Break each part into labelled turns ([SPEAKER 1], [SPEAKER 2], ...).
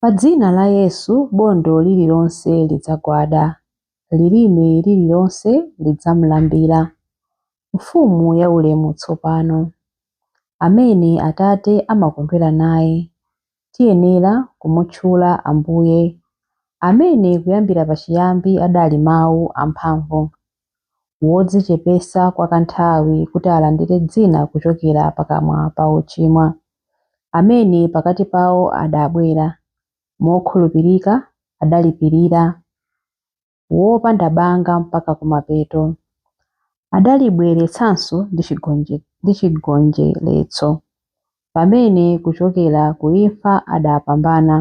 [SPEAKER 1] Pa dzina la Yesu bondo lililonse lidzagwada, lilimi lililonse lidzamulambira. Mfumu ya ulemu tsopano, amene Atate amakondwera naye, tiyenera kumutchula Ambuye, amene kuyambira pachiyambi adali Mawu amphamvu. wodzichepesa kwa kanthawi kuti alandire dzina kuchokera pakamwa pa ochimwa, amene pakati pawo adabwera, mokhulupirika adalipirira, wopanda banga mpaka kumapeto, adalibweretsanso ndi chigonjeretso, pamene kuchokera ku imfa adapambana,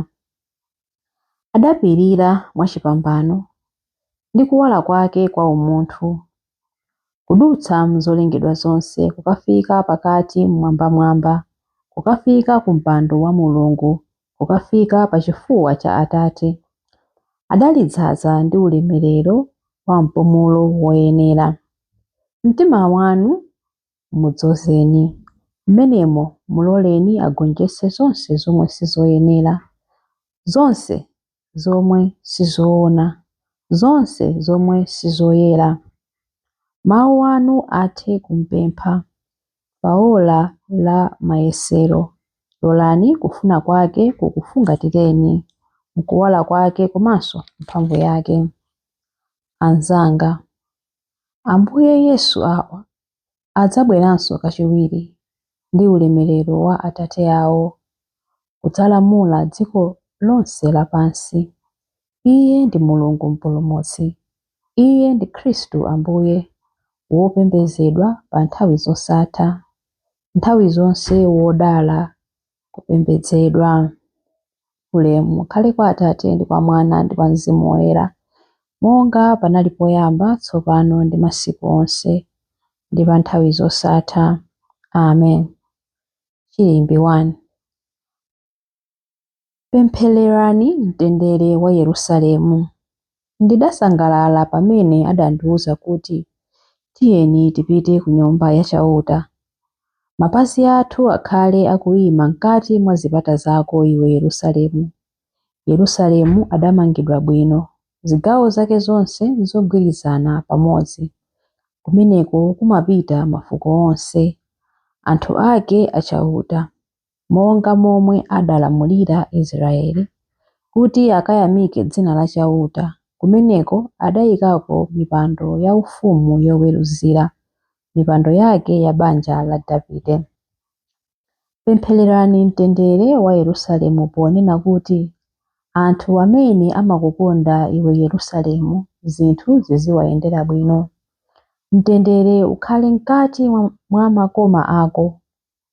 [SPEAKER 1] adapirira mwachipambano ndi kuwala kwake kwa umunthu, kudutsa m'zolengedwa zonse kukafika pakati m'mwambamwamba, kukafika ku mpando wa Mulungu, kukafika pa chifuwa cha Atate. Adalidzaza ndi ulemerero wa mpumulo woyenera. M'mitima mwanu Mudzozeni. Mmenemo, muloleni agonjetse zonse zomwe si zoyenera, zonse zomwe si zoona, zonse zomwe si zoyera. Mawu anu athe kumpempha, pa ola la mayesero, lolani kufuna kwake kukufungatireni, mkuwala kwake komanso mphamvu yake. Anzanga. Ambuye Yesu, awa adzabweranso kachiwiri ndi ulemerero wa Atate awo kudzalamula dziko lonse lapansi. Iye ndi Mulungu Mpulumutsi. Iye ndi Khristu Ambuye, wopembedzedwa pa nthawi zosatha, nthawi zonse wodala kupembedzedwa. Ulemu ukhale kwa Atate, ndi kwa Mwana, ndi kwa Mzimu Woyera, monga panali poyamba, tsopano, ndi masiku onse, ndi pa nthawi zosatha. Amen. Chilimbi 1. Pemphererani mtendere wa Yerusalemu. Ndidasangalala pamene adandiwuza kuti, Tiyeni tipite ku Nyumba ya Chauta. Mapazi athu akhale akuima m'kati mwa zipata zako, iwe Yerusalemu. Yerusalemu adamangidwa bwino, zigawo zake zonse nzogwirizana pamodzi. Kumeneko kumapita mafuko onse, anthu ake a Chauta. monga momwe adalamulira Israyeli, kuti akayamike dzina la Chauta, kumeneko adaikako mipando yaufumu yoweruzira, mipando yake ya banja la Davide. Pemphererani mtendere wa Yerusalemu ponena kuti, Anthu amene amakukonda iwe Yerusalemu, zinthu ziziwayendera bwino. Mtendere ukhale m'kati mwa makoma ako.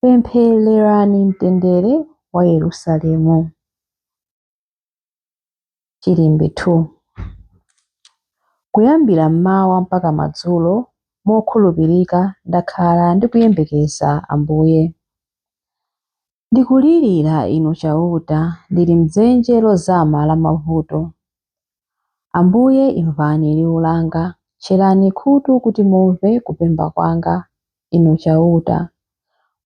[SPEAKER 1] Pemphererani mtendere wa Yerusalemu. Chilimbi 2. Kuyambira mmawa mpaka madzulo, mokhulupirika ndakhala ndikuyembekeza Ambuye. Ndikulirira Inu Chauta ndili m'dzenje lozama la mavuto. Ambuye imvani liwu langa, tcherani khutu kuti mumve kupemba kwanga, Inu Chauta.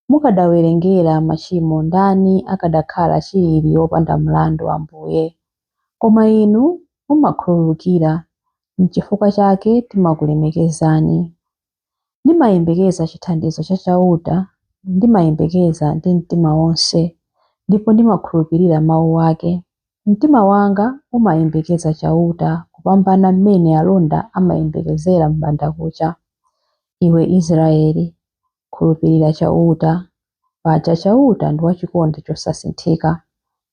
[SPEAKER 1] Mukadawerengera machimo ndani akadakhala chilili wopanda mlandu, Ambuye? Koma Inu mumakhululukira, nchifukwa chake timakulemekezani. Ndimayembekeza chithandizo cha Chauta, ndimayembekeza ndi mtima wonse, ndipo ndimakhulupirira mau ake. Mtima wanga umayembekeza Chauta kupambana m'mene alonda amayembekezera m'bandakucha. Iwe Israele, khulupirira Chauta, paja Chauta ndi wa chikondi chosasinthika.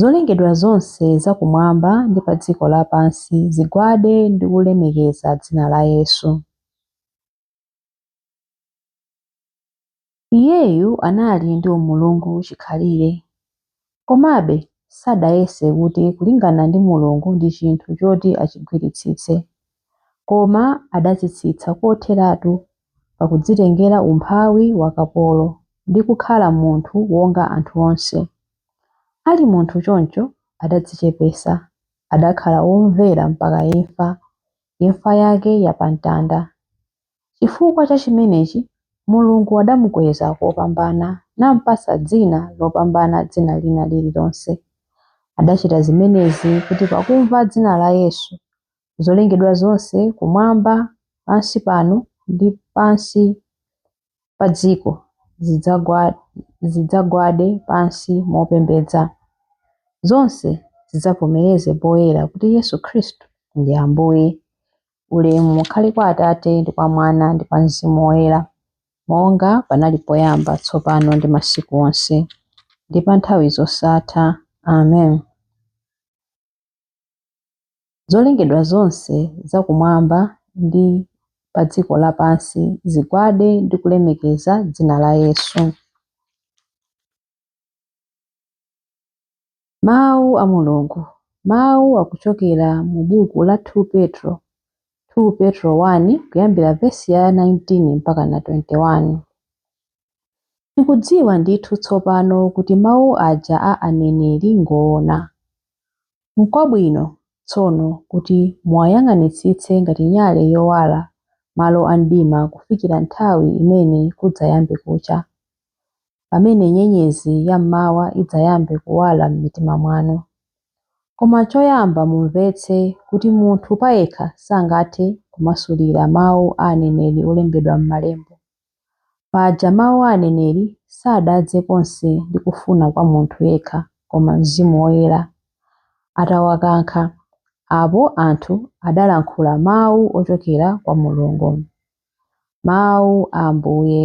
[SPEAKER 1] Zolengedwa zonse za kumwamba ndi pa dziko lapansi zigwade ndi kulemekeza dzina la Yesu. Iyeyu anali ndi umulungu chikhalire. Komabe, sadayese kuti kulingana ndi Mulungu ndi chinthu choti achigwiritsitse. koma adadzitsitsa kotheratu pakudzitengera umphawi wa kapolo ndi kukhala munthu wonga anthu onse. Ali munthu choncho adadzichepesa, adakhala womvera mpaka imfa, imfa yake ya pa mtanda. Chifukwa cha chimenechi Mulungu adamukweza kopambana nampatsa dzina lopambana dzina lina liri lonse. Adachita zimenezi kuti pakumva dzina la Yesu, zolengedwa zonse kumwamba, pansi pano ndi pansi pa dziko zidzagwade pansi mopembedza. Zonse zidzavomereze poyera kuti Yesu Khristu ndi Ambuye. Ulemu ukhale kwa Atate ndi kwa Mwana ndi kwa Mzimu Woyera, monga panali poyamba, tsopano ndi masiku onse, ndi pa nthawi zosatha. Amen. Zolengedwa zonse za kumwamba ndi pa dziko lapansi zigwade ndi kulemekeza dzina la Yesu. Mawu a Mulungu Mawu akuchokera mu buku la 2 Petro 2 Petro 1 kuyambira vesi ya 19 mpaka na 21. Tikudziwa ndithu tsopano kuti mawu aja a aneneri n'ngoona. N'kwabwino, tsono, kuti muwayang'anitsitse ngati nyale yowala malo a mdima kufikira nthawi imene kudzayambe kucha, pamene nyenyezi ya m'mawa idzayambe kuwala m'mitima mwanu. Koma choyamba mumvetse kuti munthu payekha sangathe kumasulira mawu a aneneri olembedwa m'Malembo. Paja mawu a aneneri sadadze konse ndi kufuna kwa munthu yekha, koma Mzimu Woyera atawakankha, apo anthu adalankhula mawu ochokera kwa Mulungu. Mawu a Ambuye.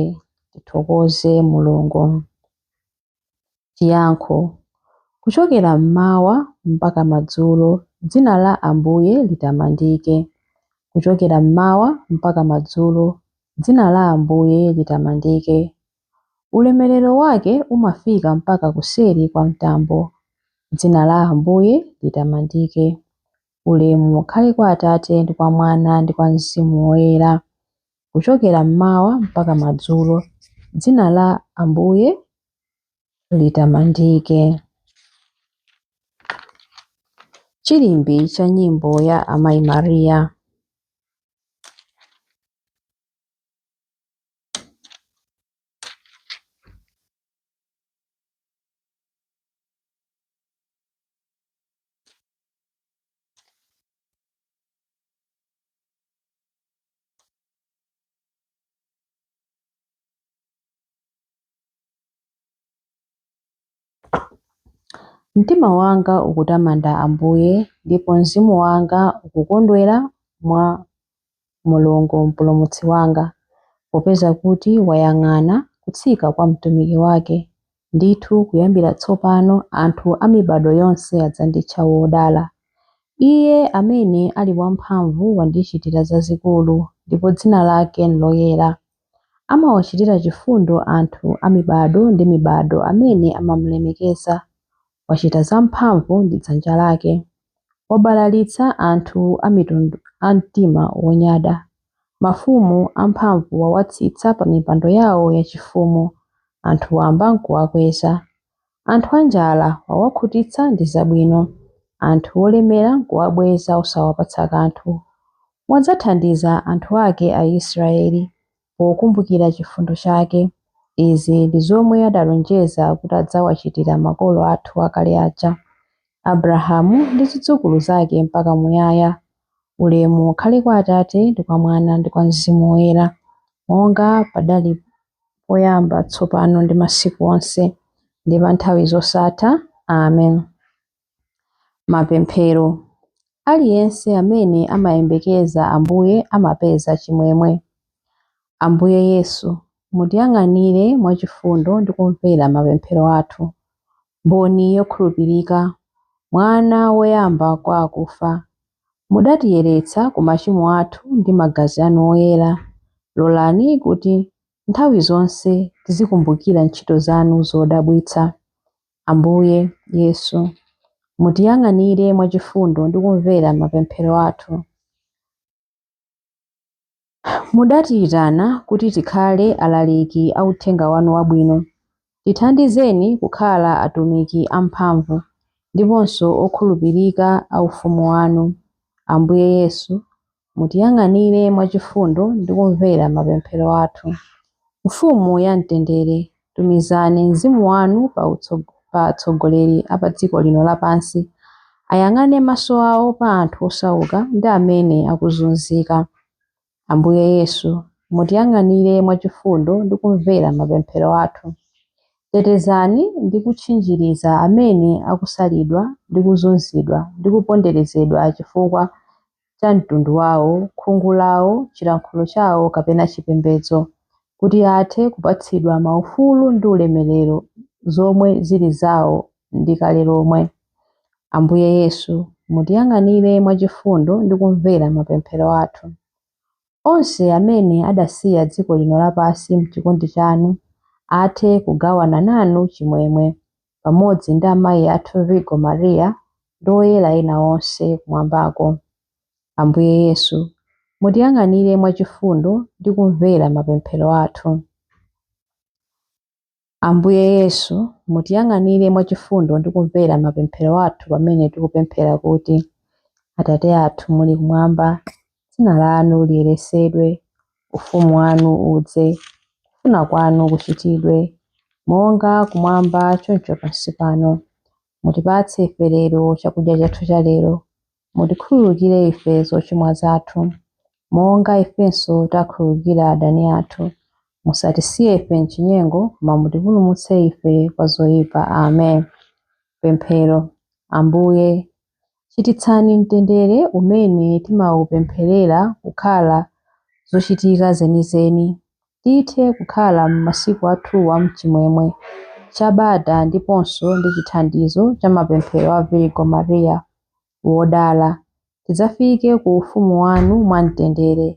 [SPEAKER 1] Tithokoze Mulungu. Chiyankho, Kuchokera m'mawa mpaka madzulo dzina la Ambuye litamandike. Kuchokera m'mawa mpaka madzulo dzina la Ambuye litamandike. Ulemerero wake umafika mpaka kuseri kwa mtambo. Dzina la Ambuye litamandike. Ulemu ukhale kwa Atate ndi kwa Mwana ndi kwa Mzimu Woyera. kuchokera mmawa mpaka madzulo. Dzina la Ambuye litamandike. Chilimbi cha nyimbo ya Amayi Mariya. Mtima wanga ukutamanda Ambuye, ndipo mzimu wanga ukukondwera mwa Mulungu Mpulumutsi wanga, popeza kuti wayang'ana kutsika kwa mtumiki wake. Ndithu kuyambira tsopano anthu a mibado yonse adzanditcha wodala. Iye amene ali wamphamvu wandichitira zazikulu, ndipo dzina lake n'loyera. Amawachitira chifundo anthu a mibado ndi mibado amene amamulemekeza, Wachita zamphamvu ndi dzanja lake. Wabalalitsa anthu a mitundu a mtima wonyada. Mafumu amphamvu wawatsitsa pamipando yawo yachifumu, anthu wamba n'kuwakweza. Anthu anjala wawakhutitsa ndi zabwino, anthu olemera n'kuwabweza osawapatsa kanthu. Wadzathandiza anthu ake Aisiraeli, pokumbukira chifundo chake. Izi ndi zomwe adalonjeza kuti adzawachitira makolo athu akale aja, Abrahamu ndi zidzukulu zake mpaka muyaya. Ulemu ukhale kwa Atate, ndi kwa Mwana, ndi kwa Mzimu Woyera, monga padali poyamba, tsopano ndi masiku onse, ndi pa nthawi zosatha. Amen. Mapemphero. Aliyense amene amayembekeza Ambuye amapeza chimwemwe. Ambuye Yesu, mutiyang'anire mwachifundo ndi kumvera mapemphero athu. Mboni yokhulupirika, Mwana woyamba kwa akufa, mudatiyeretsa ku machimo athu ndi magazi anu oyera, lolani kuti nthawi zonse tizikumbukira ntchito zanu zodabwitsa. Ambuye, Yesu, mutiyang'anire mwachifundo ndi kumvera mapemphero athu. Mudatiyitana kuti tikhale alaliki a uthenga wanu wabwino. Tithandizeni kukhala atumiki amphamvu ndiponso okhulupirika a Ufumu wanu. Ambuye Yesu, mutiyang'anire mwachifundo ndi kumvera mapemphero athu. Mfumu ya mtendere, tumizani Mzimu wanu pa atsogoleri a pa dziko lino lapansi, ayang'ane maso awo pa anthu osauka ndi amene akuzunzika. Ambuye Yesu, mutiyang'anire mwachifundo ndi kumvera mapemphero athu. Tetezani ndi kutchinjiriza amene akusalidwa ndi kuzunzidwa ndi kuponderezedwa chifukwa cha mtundu wawo, khungu lawo, chilankhulo chawo kapena chipembedzo, kuti athe kupatsidwa maufulu ndi ulemerero zomwe zili zawo ndi kale lomwe. Ambuye Yesu, mutiyang'anire mwachifundo ndi kumvera mapemphero athu. Onse amene adasiya dziko lino lapansi m'chikondi chanu athe kugawana nanu chimwemwe pamodzi ndi amayi athu Virgo Maria ndi oyera ena onse kumwambako. Ambuye Yesu, mutiyang'anire mwachifundo ndi kumvera mapemphero athu. Ambuye Yesu, mutiyang'anire mwachifundo ndi kumvera mapemphero athu pamene tikupemphera kuti, Atate athu muli kumwamba, Dzina lanu liyeresedwe, Ufumu wanu udze, kufuna kwanu kuchitidwe, monga kumwamba choncho pansi pano. Mutipatse ife lero chakudya chathu cha lero. Mutikhululukire ife zochimwa zathu, monga ifenso takhululukira adani athu. Musatisiye ife m'chinyengo, koma mutipulumutse ife kwa zoyipa. Amen. Pemphero. Ambuye, Chititsani mtendere umene timaupempherera kukhala zochitika zenizeni, tithe kukhala m'masiku athuwa m'chimwemwe cha bata ndiponso ndi chithandizo cha mapemphero a Virgo Maria Wodala, tidzafike ku ufumu wanu mwamtendere.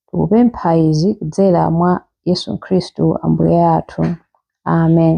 [SPEAKER 1] Tikupempha izi kudzera mwa Yesu Khristu Ambuye athu. Amen.